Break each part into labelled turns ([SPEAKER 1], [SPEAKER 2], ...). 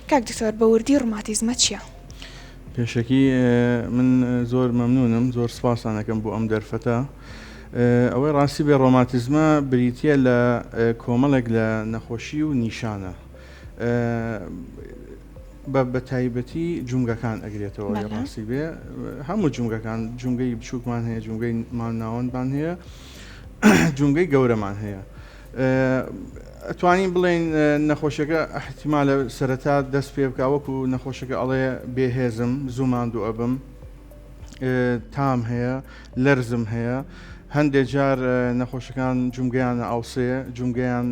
[SPEAKER 1] کاک دکتۆر بە وردی ڕوماتیزمە چیە؟ پێشەکی
[SPEAKER 2] من زۆر مەمنونم زۆر سپاستان ئەکەم بۆ ئەم دەرفەتە ئەوەی ڕاستی بێ ڕۆماتیزمە بریتە لە کۆمەڵێک لە نەخۆشی و نیشانە بە بە تایبەتی جونگەکان ئەگرێتەوە بەڵێ. ڕاستی بێ هەموو جونگەکان جونگەی بچووکمان هەیە جونگەی مان ناوەندمان هەیە جونگەی گەورەمان هەیە ئەتوانین بڵێین نەخۆشەکە ئەحتیمالە سەرەتا دەست پێ بکە وەکو نەخۆشەکە ئەڵێ بێهێزم زوو ماندوو ئەبم تام هەیە لەرزم هەیە هەندێک جار نەخۆشەکان جومگەیان ئاوسێ جومگەیان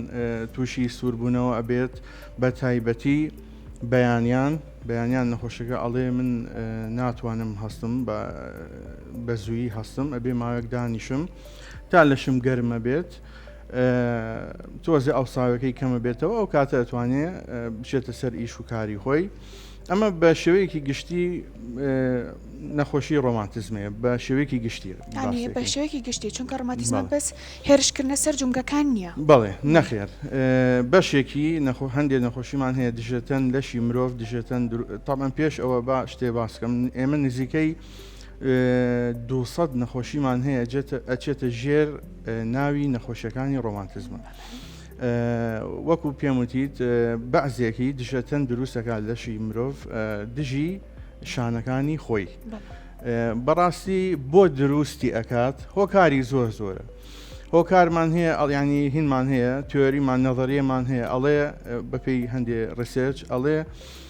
[SPEAKER 2] تووشی سووربوونەوە ئەبێت بە تایبەتی بەیانیان بەیانیان نەخۆشەکە ئەڵێ من ناتوانم هەستم بە زووی هەستم ئەبێ ماوەک دانیشم تا لەشم گەرمە بێت تۆزێ ئەوساوەکەی کەمە بێتەوە ئەو کاتە ئەتوانێ بچێتە سەر ئیش و کاری خۆی ئەمە بە شێوەیەکی گشتی نەخۆشی ڕۆمانتزمێ بە شێوەیەکی گشتی بە شێوەیەکی
[SPEAKER 1] گشتی چونکە ڕماتیزمە بەس هێرشکردە سەر جونگەکان نییە بەڵێ نەخێر
[SPEAKER 2] بەشێکی نەخۆ هەندێک نەخۆشیمان هەیە دژێتەن لەشی مرۆڤ دژێتەن تامان پێش ئەوە با شتێ باسکەم ئێمە نزیکەی دوو سەد نەخۆشیمان هەیە ئەچێتە ژێر ناوی نەخۆشیەکانی ڕۆمانتزمە وەکو پێم وتیت بەعزێکی دژەتەن دروستەکان لەشی مرۆڤ دژی شانەکانی خۆی بەڕاستی بۆ دروستی ئەکات هۆکاری زۆر زۆرە هۆکارمان هەیە ئەڵیانی هینمان هەیە تۆریمان نەظریەمان هەیە ئەڵێ بەپی هەندێ ڕسێرچ ئەڵێ